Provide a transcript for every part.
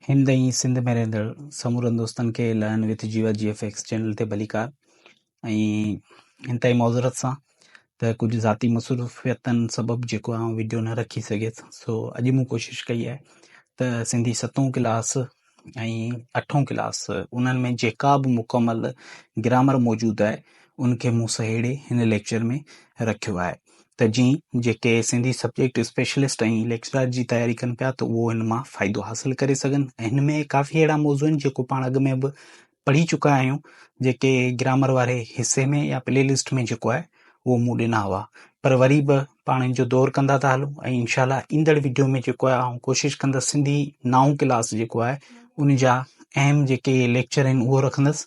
هند ۽ سنڌ ۾ رهندڙ سمورن دوستن کي لائن وٿ جيوا جي ايف ايڪس چينل تي ڀليڪار ۽ انتهائي معذرت سان ته ڪجهه ذاتي مصروفيتن سبب جيڪو آئون ويڊيو نه رکي سگهيس سو اڄ مون ڪوشش ڪئي آهي ته سنڌي ستون ڪلاس ۽ اٺون ڪلاس انهن ۾ جيڪا به مڪمل گرامر موجود آهي ان کي مون سهيڙي هن ليڪچر ۾ رکيو آهي ته جي جيڪي سنڌي سبجيڪٽ اسپيشلسٽ ۽ ليڪچرار جي تياري ڪن پيا ته اهو ان مان فائدو حاصل ڪري سگهن ۽ هن ۾ ڪافي اهڙا موضوع آهن جيڪو پاڻ اڳ ۾ به پڙهي چڪا آهيون جيڪي گرامر واري حصي ۾ يا پلي لسٽ ۾ جيڪو آهي اهو مون ڏنا هئا پر وري به پاڻ ان جو دور ڪندا ٿا هلون ۽ انشاء الله ايندڙ ويڊيو ۾ جيڪو آهي آئون ڪوشش ڪندس سنڌي نائون ڪلاس جيڪو آهي ان جا اهم جيڪي ليڪچر آهن اهو رکندس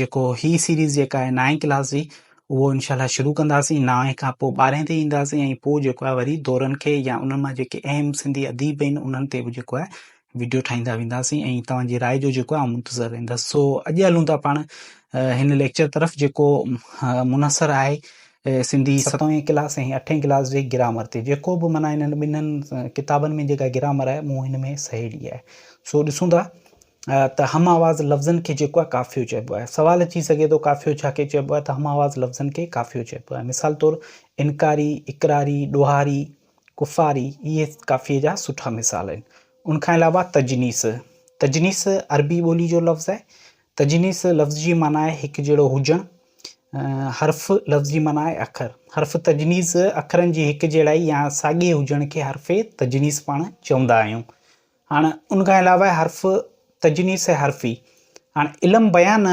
جيڪو هي سيريز جيڪا آهي نائين ڪلاس جي اهو انشاء الله شروع ڪنداسين نائين کان پوء ٻارهين تي اينداسين ۽ پوء جيڪو آهي وري دورن کي يا انهن مان جيڪي اهم سنڌي اديب آهن انهن تي به جيڪو آهي ويڊيو ٺاهيندا وينداسين ۽ توهان جي راء جو جيڪو آهي منتظر رهندس سو اڄ هلون ٿا پاڻ هن ليڪچر طرف جيڪو منحصر آهي سنڌي ستوين ڪلاس ۽ اٺين ڪلاس جي گرامر تي جيڪو به معنی هنن ٻنهن ڪتابن ۾ جيڪا گرامر آهي مون هن ۾ سهيڙي آهي سو ڏسون ٿا ته هم آواز لفظن کي جيڪو آهي قافيو چئبو آهي. سوال اچي سگهي ٿو قافيو ڇا کي چئبو آهي ته هم آواز لفظن کي قافيو چئبو آهي. مثال طور انڪاري، اقراري، ڏوهاري، ڪفاري اهي قافيي جا سٺا مثال آهن. ان کان علاوه تجنيس، تجنيس عربي ٻولي جو لفظ آهي. تجنيس لفظ جي معنيٰ آهي هڪ جهڙو هجڻ. حرف لفظ جي معنيٰ آهي اکر. حرف تجنيس اکرن جي هڪ جهڙائي يا ساڳئي هجڻ کي حرف تجنيس پاڻ چوندا آهيون. هاڻ ان کان علاوه حرف تجنيس حرفي. هاڻ علم بيان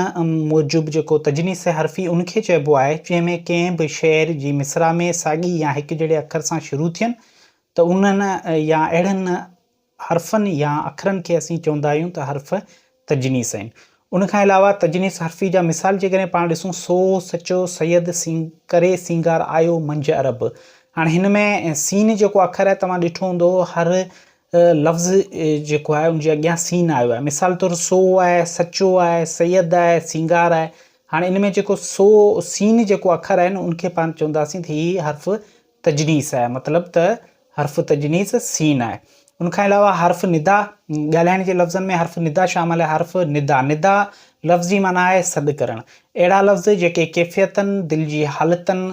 موجب جيڪو تجنيس حرفي ان کي چئبو آهي جنهن ۾ ڪنهن به شعر جي مصرع ۾ ساڳي يا هڪ جهڙي اکر سان شروع ٿين ته انهن يا اهڙن حرفن يا اکرن کي اسين چوندا آهيون ته حرف تجنيس آهن. ان کان علاوه تجنيس حرفي جا مثال جيڪڏهن پاڻ ڏسون سو، سچو، سيد، سين، ڪري، سينگار، آيو، منجهه، عرب. هاڻي هن ۾ سين جيڪو اکر آهي توهان ڏٺو هوندو هر لفظ جيڪو آهي ان جي اڳيان سين آيو آهي مثال طور سو آهي، سچو آهي، سيد آهي، سينگار آهي. هاڻي ان ۾ جيڪو سو، سين جيڪو اکر آهي نه ان کي پاڻ چونداسين ته هي حرف تجنيس آهي مطلب ته حرف تجنيس سين آهي ان کان علاوه حرف ندا ڳالهائڻ جي لفظن ۾ حرف ندا شامل آهي حرف ندا ندا لفظ جي معنيٰ آهي سڏ ڪرڻ اهڙا لفظ جيڪي ڪيفيتن دل جي حالتن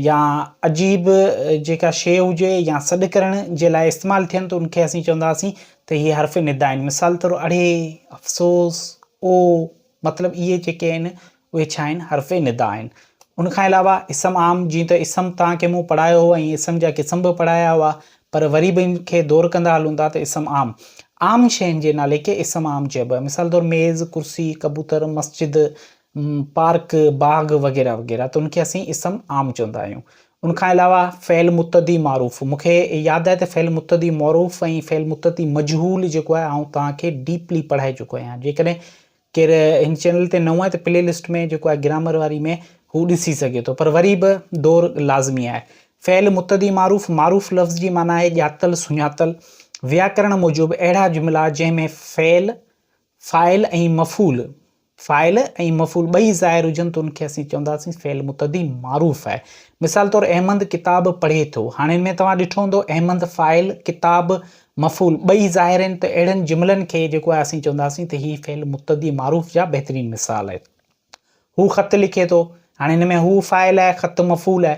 يا عجيب جيڪا شيء هجي يا سڏ ڪرڻ جي لاء استعمال ٿين ته ان کي اسين چونداسين ته هي حرف ندا آهن مثال طور اڙي افسوس او مطلب اهي جيڪي آهن اهي ڇا آهن؟ حرف ندا آهن. ان کان علاوه اسم عام جيئن ته اسم توهان کي مون پڙهايو هو ۽ اسم جا قسم به پڙهايا هئا پر وري به ان کي دور ڪندا هلون ٿا ته اسم عام، عام شين جي نالي کي اسم عام چئبو آهي مثال طور ميز، ڪرسي، ڪبوتر، مسجد، پارڪ، باغ وغيره وغيره ته ان کي اسين اسم عام چوندا آهيون. ان کان علاوه فعل متعدي معروف مون کي ياد آهي ته فعل متعدي معروف ۽ فعل متعدي مجهول جيڪو آهي آئون توهان کي ڊيپلي پڙهائي چڪو آهيان جيڪڏهن ڪير هن چينل تي نئون آهي ته پلي لسٽ ۾ جيڪو آهي گرامر واري ۾ هو ڏسي سگهي ٿو پر وري به دور لازمي آهي فعل متعدي معروف معروف لفظ جي معنيٰ آهي ڄاتل سڃاتل وياڪرڻ موجب اهڙا جملا جنهن ۾ فعل فاعل ۽ مفعول، فاعل ۽ مفعول ٻئي ظاهر هجن ته ان کي اسين چونداسين فعل متعدي معروف آهي. مثال طور احمد ڪتاب پڙهي ٿو. هاڻي ان ۾ توهان ڏٺو هوندو احمد فاعل، ڪتاب مفعول ٻئي ظاهر آهن ته اهڙن جملن کي جيڪو آهي اسين چونداسين ته هي فعل متعدي معروف جا بهترين مثال آهن. هو خط لکي ٿو. هاڻي هن ۾ هو فاعل آهي، خط مفعول آهي.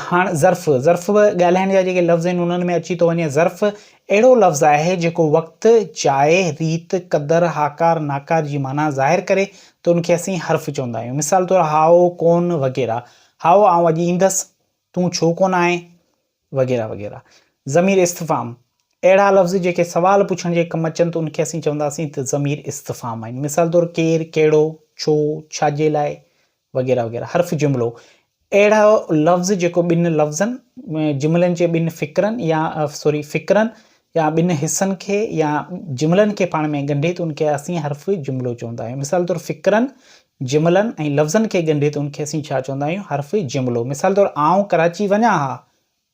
هاڻ ظرف، ظرف به ڳالهائڻ جا جيڪي لفظ آهن انهن ۾ اچي ٿو وڃي. ظرف اهڙو لفظ آهي جيڪو وقت، جاء، ريت، قدر، هاڪار، ناڪار جي معنيٰ ظاهر ڪري ته ان کي اسين حرف چوندا آهيون. مثال طور هائو، ڪون وغيره. هائو، آئون اڄ ايندس. تون ڇو ڪونه آئين؟ وغيره وغيره. ضمير استفهام، اهڙا لفظ جيڪي سوال پڇڻ جي ڪم اچن ته ان کي اسين چونداسين ته ضمير استفهام آهن. مثال طور ڪير، ڪهڙو، ڇو، ڇا جي لاء وغيره وغيره. حرف جملو، اهڙو لفظ جيڪو ٻن لفظن، جملن جي ٻن فقرن يا سوري فقرن يا ٻن حصن کي يا جملن کي پاڻ ۾ ڳنڍي ته ان کي اسين حرفي جملو چوندا آهيون. مثال طور فڪرن، جملن ۽ لفظن کي ڳنڍي ته ان کي اسين ڇا چوندا آهيون؟ حرفي جملو. مثال طور آئون ڪراچي وڃان ها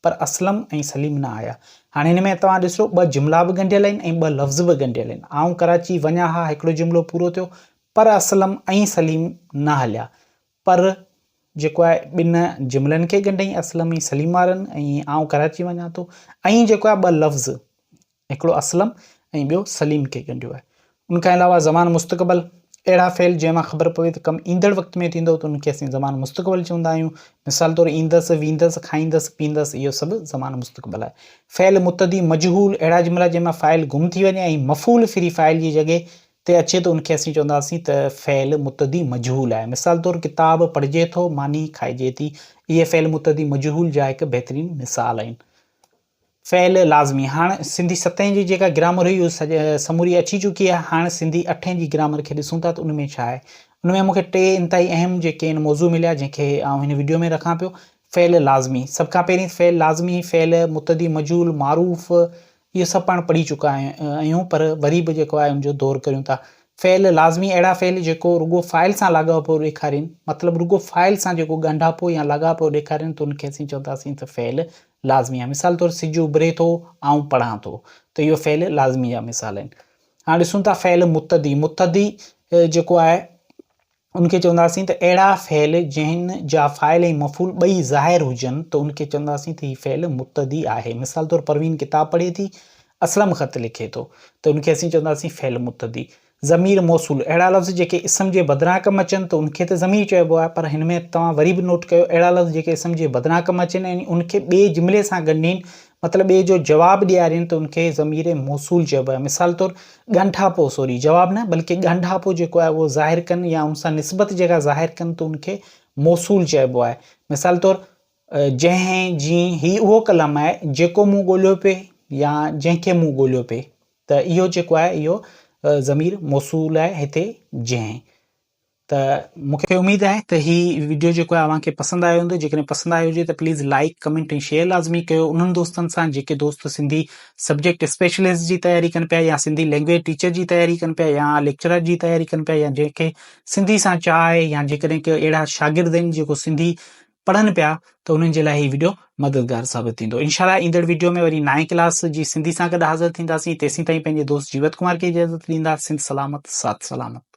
پر اسلم ۽ سليم نه آيا. هاڻي هن ۾ توهان ڏسو ٻه جملا به ڳنڍيل آهن ۽ ٻه لفظ به ڳنڍيل آهن. آئون ڪراچي وڃان ها هڪڙو جملو پورو ٿيو پر اسلم ۽ سليم نه هليا. پر جيڪو آهي ٻن جملن کي ڳنڍئي اسلم ۽ سليم وارن ۽ آئون ڪراچي وڃان ٿو ائين جيڪو آهي ٻه لفظ هڪڙو اسلم ۽ ٻيو سليم کي ڳنڍيو آهي ان کان علاوه زمان مستقبل اهڙا فعل جنهن مان خبر پوي ته ڪم ايندڙ وقت ۾ ٿيندو ته ان کي اسين زمان مستقبل چوندا آهيون مثال طور ايندس ويندس کائيندس پيندس اهو سڀ زمان مستقبل آهي فعل متدي مجهول اهڙا جملا جنهن مان فاعل گم ٿي وڃي ۽ مفعول فري فاعل جي جڳهه تي اچي ته ان کي اسين چونداسين ته فعل متعدي مجهول آهي. مثال طور ڪتاب پڙهجي ٿو، ماني کائجي ٿي. اهي فعل متعدي مجهول جا هڪ بهترين مثال آهن. فعل لازمي، هاڻ سنڌي ستين جي جيڪا گرامر هئي اهو سموري اچي چڪي آهي. هاڻ سنڌي اٺين جي گرامر کي ڏسون ٿا ته ان ۾ ڇا آهي. ان ۾ مون کي ٽي انتهائي اهم جيڪي آهن موضوع مليا جنهن کي آئون هن وڊيو ۾ رکان پيو. فعل لازمي، سڀ کان پهرين فعل لازمي، فعل متعدي مجهول، معروف، اهو سڀ پاڻ پڙهي چڪا آهيون پر وري به جيڪو آهي ان جو دور ڪريون ٿا. فعل لازمي اهڙا فعل جيڪو رڳو فاعل سان لاڳاپو ڏيکارين مطلب رڳو فاعل سان جيڪو ڳنڍاپو يا لاڳاپو ڏيکارين ته ان کي اسين چونداسين ته فعل لازمي آهي مثال طور سج اڀري ٿو آئون پڙهان ٿو ته اهو فعل لازمي جا مثال آهن. هاڻ ڏسون ٿا فعل متعدي متعدي جيڪو آهي. ان کي چونداسين ته اهڙا فعل جنهن جا فاعل ۽ مفعول ٻئي ظاهر هجن ته ان کي چونداسين ته هي فعل مبتدي آهي. مثال طور پروين ڪتاب پڙهي ٿي، اسلم خط لکي ٿو ته ان کي اسين چونداسين فعل مبتدي. ضمير موصول، اهڙا لفظ جيڪي اسم جي بدران ڪم اچن ته ان کي ته ضمير چئبو آهي پر هن ۾ توهان وري به نوٽ ڪيو اهڙا لفظ جيڪي اسم جي بدران ڪم اچن يعني ان کي ٻئي جملي سان ڳنڍين مطلب ٻئي جو جواب ڏيارين ته ان کي ضمير موصول چئبو آهي. مثال طور، ڳانڍاپو سوري، جواب نه، بلڪه ڳانڍاپو جيڪو آهي اهو ظاهر ڪن يا ان سان نسبت جيڪا ظاهر ڪن ته ان کي موصول چئبو آهي. مثال طور، جنهن، جيئن، هي اهو ڪلام آهي جيڪو مون ڳوليو پئي يا جنهن کي مون ڳوليو پئي ته اهو جيڪو آهي اهو ضمير موصول آهي هتي جنهن. ته مون کي اميد آهي ته هي ويڊيو جيڪو آهي اوهان کي پسند آيو هوندو جيڪڏهن پسند آيو هجي ته پليز لائيڪ ڪمينٽ ۽ شيئر لازمي ڪيو انهن دوستن سان جيڪي دوست سنڌي سبجيڪٽ اسپيشلسٽ جي تياري ڪن پيا يا سنڌي لينگويج ٽيچر جي تياري ڪن پيا يا ليڪچرر جي تياري ڪن پيا يا جنهن کي سنڌي سان چاهه آهي يا جيڪڏهن ڪي اهڙا شاگرد آهن جيڪو سنڌي پڙهن پيا ته انهن جي لاء هي ويڊيو مددگار ثابت ٿيندو انشاءالله ايندڙ ويڊيو ۾ وري نائين ڪلاس جي سنڌي سان گڏ حاضر ٿينداسين تيسين تائين پنهنجي دوست جيوت ڪمار کي اجازت ڏيندا سنڌ سلامت ساٿ سلامت